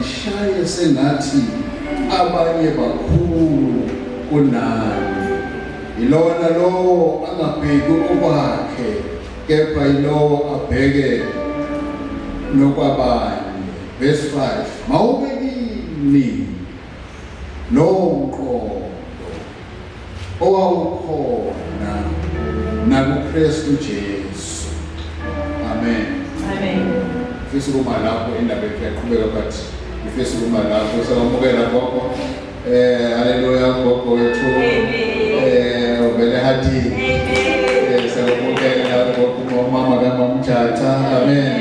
Shaye sengathi abanye bakhulu kunani. Yilona lowo angabheki okwakhe kepha yilowo abheke nokwabanye. Verse 5. Mawube kimi lowo mqondo owawukhona nakuKristu Jesu. Amen. Amen. Fisa ukuba lapho indaba yakhe yaqhubeka but ngifisa ukuba lapho sawamukela gogo. Eh haleluya gogo wethu. Eh uvele hathi. Eh sawamukela gogo mama kamamjatha. Amen.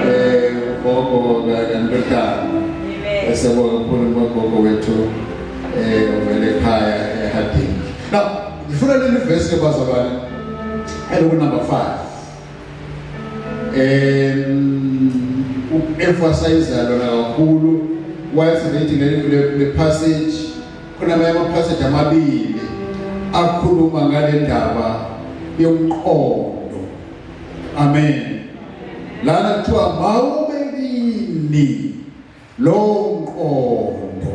Eh gogo ngandodana. Amen. Esebonga kukhulu gogo wethu. eh uvele ekhaya ehadini now ngifuna leli verse ke bazalwane eloku number 5 em emphasize lona kakhulu wathi ngithi le passage kunamanye ama passage amabili akhuluma ngale ndaba yomqondo amen lana kuthiwa mawube kini Lowo mqondo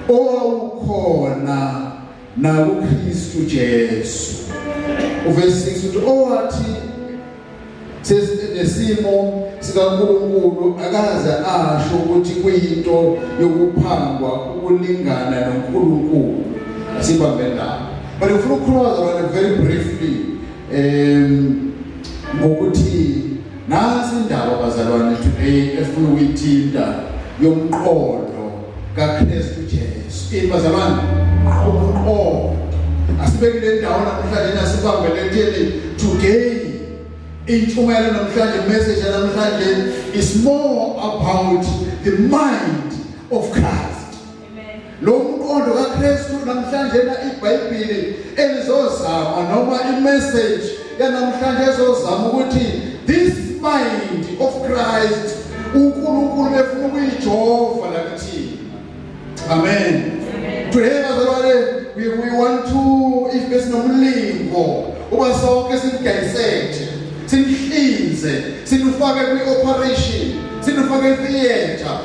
owawukhona nakuKristu Jesu. Uvesi 6 uthi owathi sesinesimo sikaNkulunkulu akaze asho ukuthi kuyinto yokuphangwa ukulingana noNkulunkulu sibambe lapho but ngifuna ukukhuluma very briefly um ngokuthi Nansi indaba bazalwane today efuna ukuyithinta yomqondo kaKristu Jesu. Ini bazalwane? Umqondo. Asibeke le ndawo namhlanje nasibambele etheni today intshumayelo namhlanje message namhlanje is more about the mind of Christ. Lo mqondo kaKristu namhlanje na iBhayibheli elizozama noma imessage yanamhlanje ezozama ukuthi this mind of Christ uNkulunkulu befuna ukuyijova lakithi. Amen. Today bazalwane we, we want to if besinomlingo uba sonke sidayiseke sinihlinze sinifake kwi-operation sinifake etheatre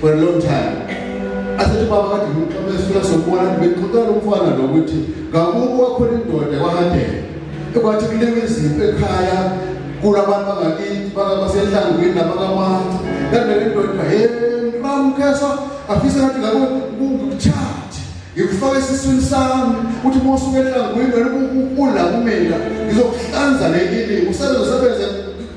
for a long time asethi baba kade ngimxabesula sokubona bexoxela umfana lokuthi ngakubo wakhona indoda kwahadela ekwathi kulewe izimpi ekhaya kulabantu bangakithi bakabasehlangwini nabakamanca kanti le ndoda he ngiramkhesa afise ngathi ngako ngikuchathe ngikufaka esiswini sami uthi uma usuke ehlangwini wena ukula kumina ngizokuhlanza le kini usebenze usebenze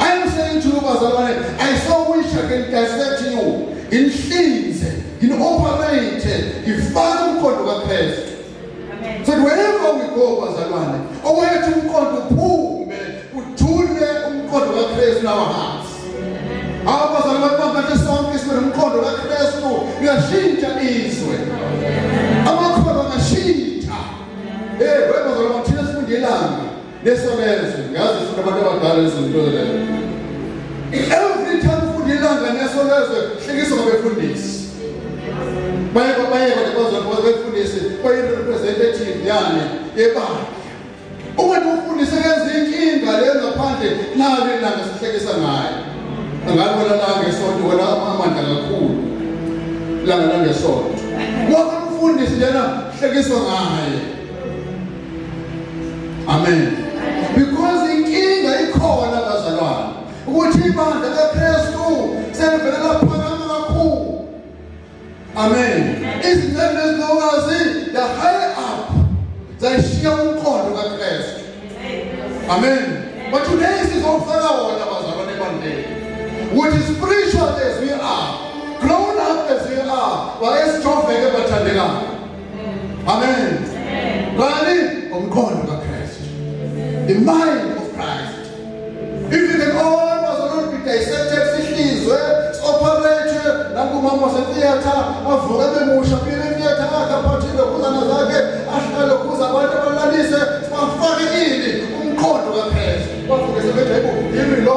I'm saying to you bazalwane I so wish I can dissect you inhlinze in operate ifana umkhondo kaKristu so wherever we go bazalwane owethu umkhondo uphume uthule umkhondo kaKristu nawo hamba abazalwane babantu sonke sibe nomkhondo kaKristu uyashintsha izwe amakhono ngashintsha eh webazalwane thina sifundelani Nesonezwe ngazi futhi abantu abadala izinto lezo. Every time ufunda ilanga nesonezwe hlekisa ngabefundisi. Baye baye bazokwazi befundisi baye representative yani ebandla. Uma ufundise kenza inkinga le ngaphandle nalo ilanga sihlekisa ngayo. Angalibona la ngesonto wena amandla kakhulu. Langa langesonto. Wonke umfundisi njena hlekiswa ngaye. Amen. Because inkinga ikhona bazalwane ukuthi ibandla leKristu selivele laphakama kakhulu. Amen. Izinhlelo ezinokazi the higher up zayishiya umqondo kaKristu. Amen. But today sizofaka wona bazalwane ebandleni. Ukuthi spiritual as we are, grown up as we are, wayesijoveke bathandekayo. Amen. Ngani umqondo kaKristu. The mind of Christ. If you can all was not be dissected sihlizwe operate nakumama setheater avuka bemusha phile theater akaphathile kuzana zakhe ahlale kuza abantu abalalise bafake ini umqondo kaKristu. Bafike sebejayile yimi lo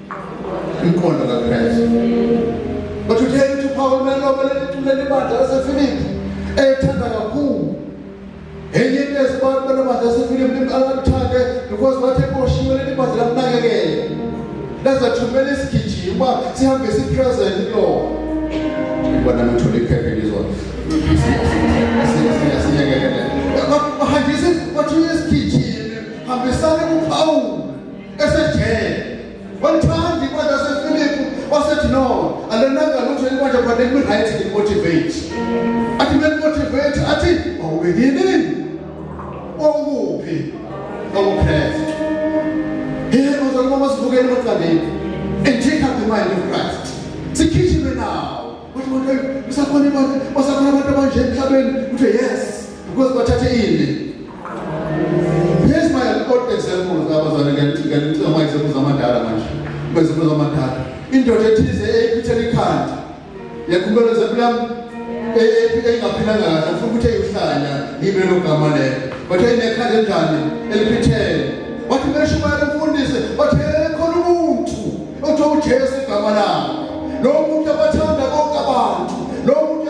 Inkondo kaKristu. But utheni ukuthi uPaul mele obele licule libandla laseFilipi eyithanda kakhulu. Enye into esibantu banamandla aseFilipi limqalakuthande because wathi ekoshiwe leli bandla lamnakekela. Lazathumela isigijima sihambe sipresent kulona. Ibona ngithole iphepha elizwa. Siyayekelela. Bahambisa bathuye isigijimi hambisane kuPaul esejele wamthandi ibandla sefilipu wasethi no alenanga lutho elibandla but let me write it motivate athi me motivate athi awubekini wawukuphi wawukhrestu yena bazalwa masivukele emaqandeni and take up the mind of christ sikhishime nawo ukuthi manje usakhona abantu basakhona abantu abanje emhlabeni uthe yes because bathathe ini Here's my old example abazali ngiyacika ngicika my example zamadala manje. Bezimpo zamadala. Indoda ethize eyiphithela ikhanda. Yakhuluma example yami engaphilanga kahle ngifuna ukuthi eyohlanya ngibe logama lelo. But eyinekhanda enjani eliphithele. Wathi beshumayela umfundisi wathi khona umuntu othiwa uJesu igama lakhe. Lo muntu abathanda bonke abantu. Lo muntu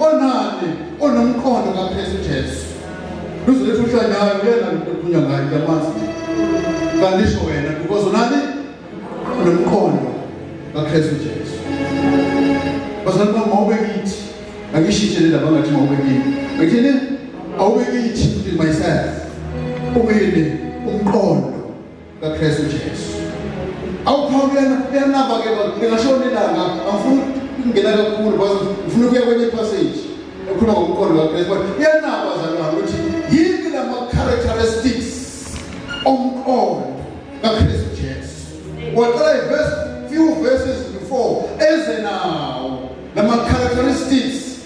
onani onomqondo kaKristu Jesu luzoletha uhlanyayo kuyena lokukhulunywa ngayo kuyamazi kandisho wena because unani nomqondo kaKristu Jesu bazalwa mawube kithi angishitshe lendaba ngathi mawube kimi ngithini awube kithi myself ubini umqondo kaKristu Jesu. Awuphawula kuyena kuyanaba ke ngingashona ilanga angifuni ukungena kakhulu because ngifuna ukuya kwenye passage ekhuluma ngomqondo kaKristu but kuyanaba zalwana ukuthi yini lama characteristics omqondo kaKristu Jesu. Waqala iverse few verses before eze nawo lama characteristics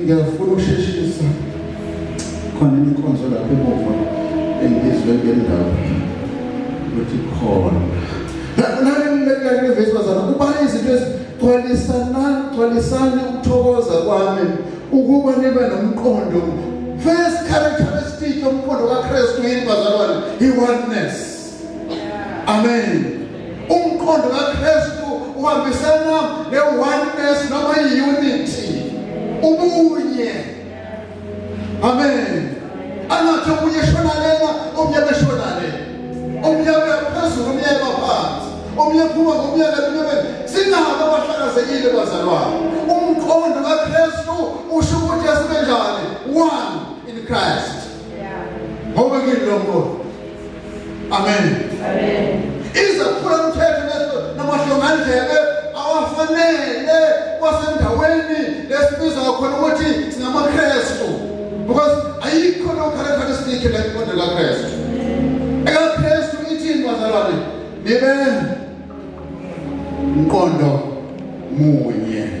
Ngiyafuna ukusheshisa khona inkonzo lapho emuva engizwe ngendawo ukuthi khona nalelivesibazana kuba izinto ezigcwalisanani gcwalisani ukuthokoza kwami ukuba nibe nomqondo first characteristic yomqondo kaKristu yini bazalwane i oneness amen umqondo kaKristu uhambisana ne oneness noma unity ubunye amen angathi omunye shona lena omunye beshona lena omunye phezulu omunye phansi omunye phuma ngomunye lena sinabo abahlakazekile bazalwane umqondo kaKristu usho ukuthi asibe njani one in Christ Ngoba ke lokho. Amen. Amen. Izaphula umthetho leso namahlongandlebe awafanele kwasendaweni lesibiza khona ukuthi singamaKristu. Because ayikho no characteristic le nkonzo kaKristu. EkaKristu ithini bazalwane? Nibe mqondo munye.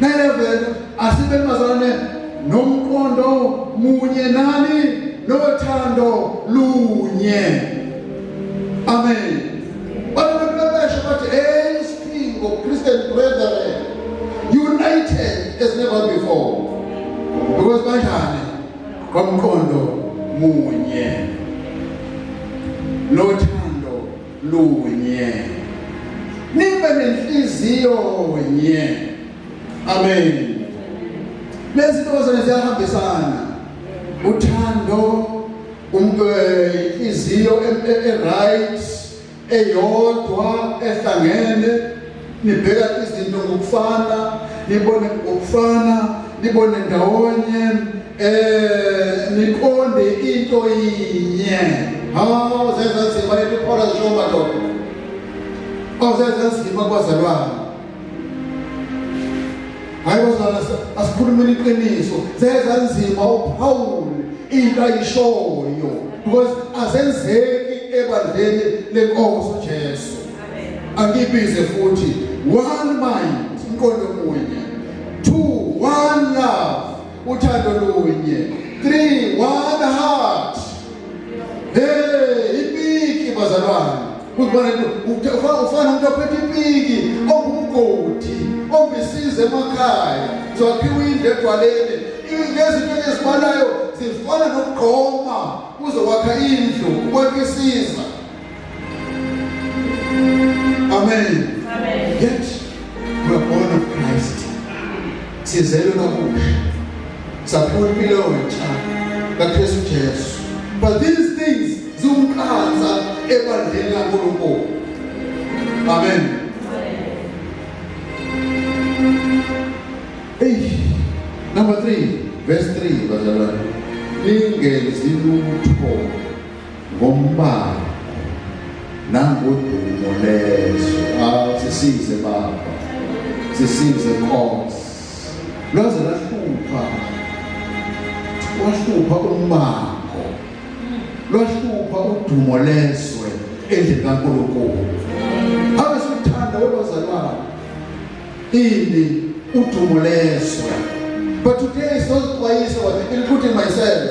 Nelevele asibe mazalwane nomqondo munye nani nothando lunye. Amen. Abantu bebesho bathi hey isiphingo Christian brethren united as never before. Because banjani? Kwamqondo munye. Nothando lunye nibe nenhliziyo nye amen lezi ntokozane ziyahambisana uthando umuntu inhliziyo e-, e-, e-right eyodwa ehlangene nibheka izinto ngokufana nibone ngokufana nibone ndawonye eh niqonde into yinye hawu zenza nzima lento iphora nje madoda awuzenza nzima kwazalwana hayi bazalwana asikhulumeni iqiniso zenza nzima uphawule into ayishoyo because asenzeki ebandleni lenkosi uJesu angibize futhi one mind umqondo munye two one love uthando lunye three one heart hey ipiki bazalwane ukubona ufana umuntu ophethe ipiki ongumgodi ombisize emakhaya zokhiwa indlu egwaleni izinto ezibalayo zifana nokugqoma uzokwakha indlu ukwakisiza Amen. Amen. Yet we are born of Christ. Sizelwe kabusha. Saphiwa impilo entsha kaKristu Jesu. But these things ziwuqansa ebandleni laNkulunkulu. Amen. Hey, number 3, verse 3 bazalwane. Ningenzi lutho ngombango nangodumo lezwe awu sisize baba sisize nkosi lwaze lahlupha wahlupha umbango lwahlupha udumo lezwe endlini kaNkulunkulu ake sithanda webazalwana ini udumo lezwe but today is not kwayiso ukuthi myself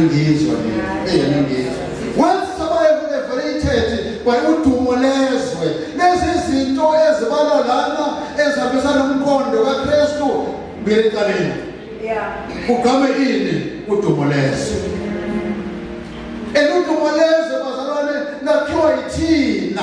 ngizwa mina ngizwa wathi sabaye kuneveritated kwayiudumo lezwe lezi zinto ezibala lana ezihambisana nomqondo kaKristu ngeliqaleni yeah ugame ini udumo lezwe eludumo lezwe bazalwane lakhiwa yithina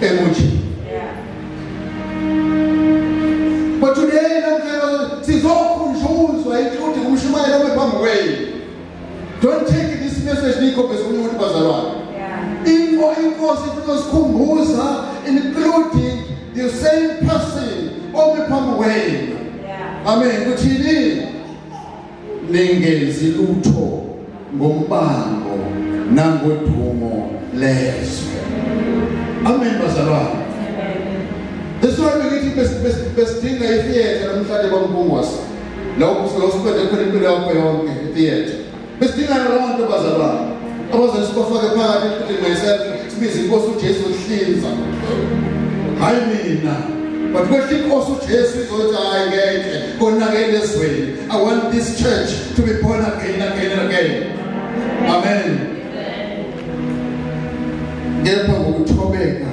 emuthi but today namhlanje sizokhunjuzwa inhluthu kumshumayela kwephambi kwenu don't take this message nikhombisa omunye umuntu bazalwane info inkosi ifuna usikhumbuza including the same person omi phambi kwenu amen kuthini ningenzi lutho ngombango nangodumo lezwe amen bazalwane That's why ngithi besidinga itheater namhlanje kwaMpungwasa la usiqede khona impilo yakho yonke itheater besidinga nalabo nto bazalwane abazothi sibafake phakathi empilweni myself sibize inkosi uJesu uhlinza hayi mina but kwehle inkosi uJesu izothi hayi ngeke konakele ezweni I want this church to be born again, again, and again. Amen. Kepha ngokuthobeka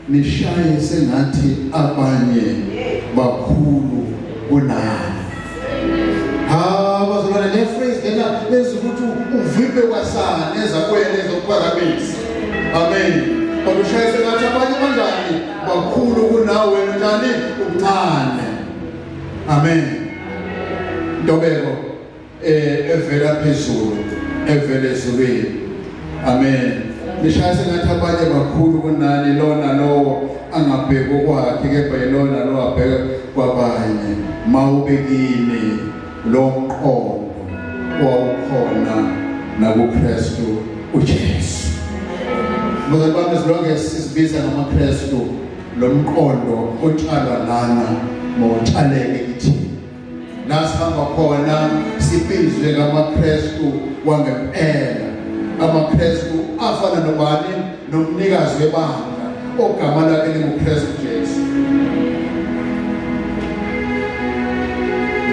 nishaye sengathi abanye bakhulu kunani. Ha bazalwane le phrase lena lenza ukuthi uvimbe kwasana ezakwele zokuphakamisa. Amen. Bakushaye sengathi abanye kanjani bakhulu kunawe njani umncane. Amen. Ntobeko eh evela phezulu evele ezulwini. Amen. Nishaya sengathi abanye bakhulu kunani lona lowo angabheki okwakhe kepha yilona lo abheke kwabanye mawubekini lo mqondo wawukhona nakuKristu uJesu. Muzabami silonge sizibiza ngamaKristu lomqondo otshalwa lana mawutshaleke kithina la sihamba khona sibizwe ngamaKristu wangempela amaKristu afana nobani nomnikazi webandla ogama lakhe linguKristu Jesu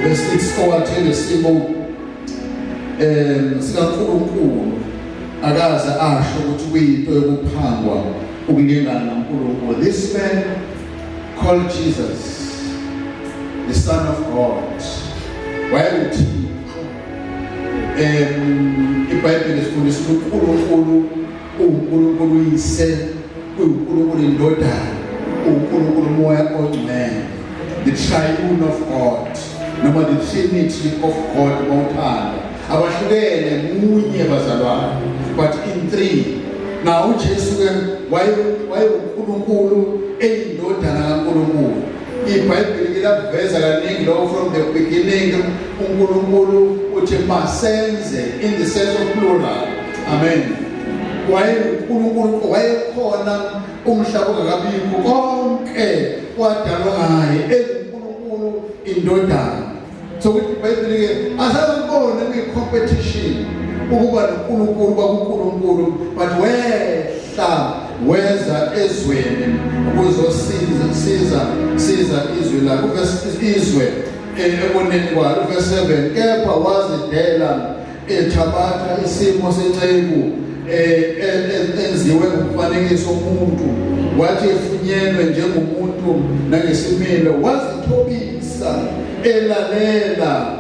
verse 6 owathile simo um sikaNkulunkulu akaze asho ukuthi kuyinto yokuphangwa ukulingana noNkulunkulu this man called Jesus the son of God wayenguthixo um ibhayibheli sifundisa ukuthi uNkulunkulu uNkulunkulu uyise uNkulunkulu indodana uNkulunkulu umoya ongcwele the triune of God noma the trinity of God ngothando abahlukene munye bazalwane but in three na uJesu ke wayenkulunkulu eyindodana kaNkulunkulu iBhayibheli liyaveza kaningi lo from the beginning uNkulunkulu uthi masenze in the sense of plural amen wayenkulunkulu wayekhona umhlaba ungakabikho konke kwadalwa ngaye enguNkulunkulu indodana sokuthi ibhayibheli-ke asazibone kuyi-competition ukuba nonkulunkulu kwakunkulunkulu but wehla weza ezweni ukuzosiza siza siza izwi lakho izwe eboneni kwalo verse 7 kepha wazidela ethabatha isimo senceku eh, enziwe ngomfanekiso omuntu wathi efunyenwe njengomuntu nangesimilo wazithobisa elalela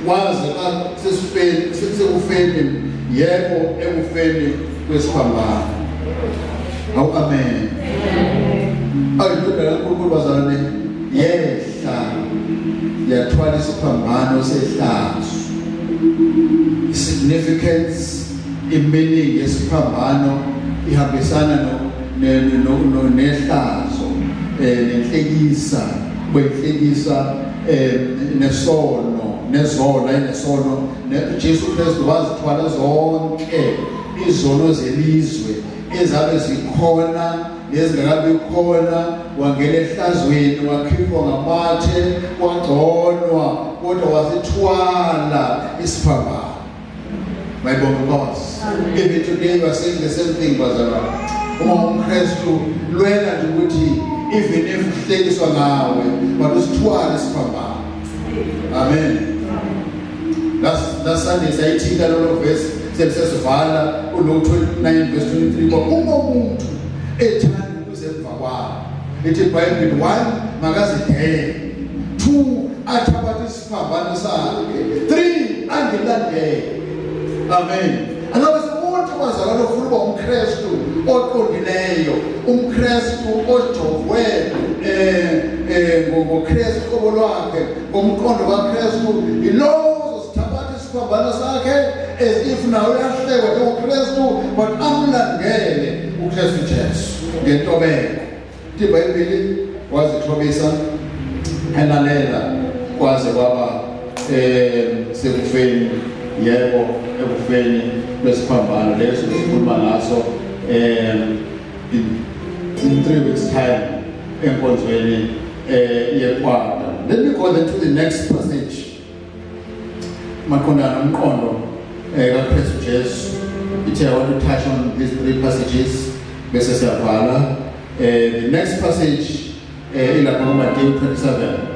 waze asesifeni sekufeni yebo ekufeni kwesiphambano awu amen ayidodana uNkulunkulu bazalwane yes yathwala isiphambano sehlazo significance imeaning yesiphambano ihambisana no nehlazo eh, nenhlekisa kwenhlekisa eh, nesono nezona inesono Jesu Kristu wazithwala zonke izono zelizwe ezabe zikhona nezingakabi khona wangena ehlazweni wakhipha ngamathe wagconwa kodwa wasithwala isiphambano my bongoz even today you are saying the same thing bazalwane uma umkristu lwela nje ukuthi even if uhlekiswa ngawe but usithwala isiphambano amen lasande sayithinta lolo vesi selisesivala ulo 29 vesi 23 kwa uma umuntu ethanda ukuze emva kwalo lithi ibhayibheli one makazidele two athabathe isiphambano sakhe three angilandele amen angabe umuntu wazalwa lofuna uba umkrestu oqondileyo umkrestu ojovwe um eh, um eh, ngokrestu qobo lwakhe Umqondo kaKristu yilowo uzosithabatha isiphambano sakhe as if nawe uyahlekwa njengoKristu but amlandele uKristu Jesu ngentobeko. IBhayibheli wazithobisa elalela kwaze kwaba eh sekufeni yebo ekufeni lesiphambano leso sikhuluma ngaso eh in three weeks time enkonzweni eh yekwanda let me go then to the next passage maqondana umqondo eh kaKristu Jesu ithe I want to touch on these three passages bese siyavala eh the next passage eh ilapha ku Matthew 27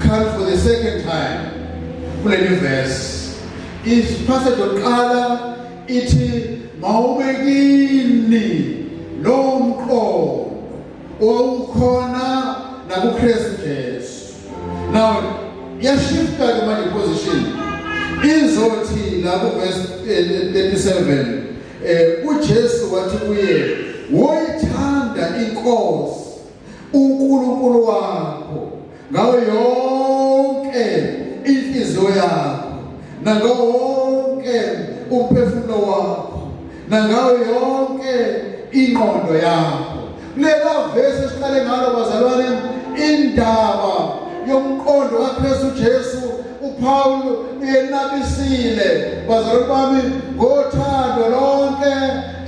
Come for the second time kuleli verse. Isiphasade yokuqala ithi mawube kini lowo mqondo owawukhona nakuKristu Jesu. Now yashifta ke manje position izothi lapho verse 37 eh, eh, eh uJesu wathi kuye woyithanda inkosi uNkulunkulu wakho ngawo yonke inhliziyo yakho nangawo wonke umphefumulo wakho nangawo yonke ingqondo yakho lela vesi siqale ngalo bazalwane indaba yomqondo kaKristu Jesu uPawulu uyenabisile bazalwane bami ngothando lonke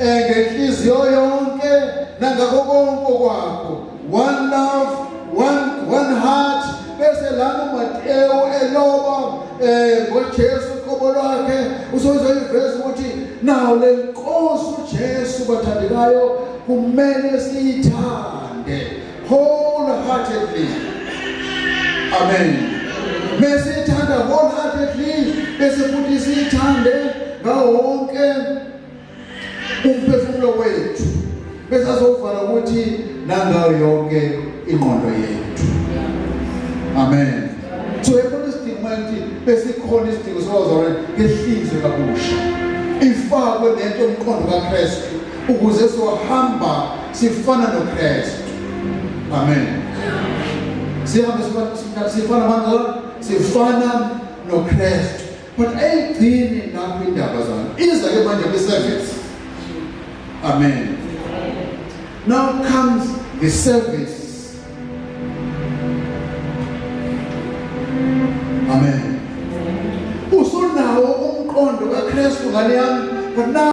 eh, ngenhliziyo yonke nangakho konke kwakho one love one, one heart bese lana uMatewu eloba eh ngoJesu qobo lwakhe usozoyiveza ukuthi nawo le nkosi uJesu bathandekayo kumele siyithande wholeheartedly amen mesithanda wholeheartedly bese futhi siyithande ngawo wonke umphefumulo wethu bese azovala ukuthi nangayo yonke ingqondo yethu amen so yekona isidingo manje besikhona isidingo sokuzalwa ngehlizwe kabusha ifakwe nento umqondo kaKristu ukuze sohamba sifana noKristu amen sihamba sifana sifana noKristu But ayigcini lapho indaba zalo. Iza ke manje kwi service. Amen. Now comes the service. Amen. Usunawo umqondo kaKristu ngale yami but now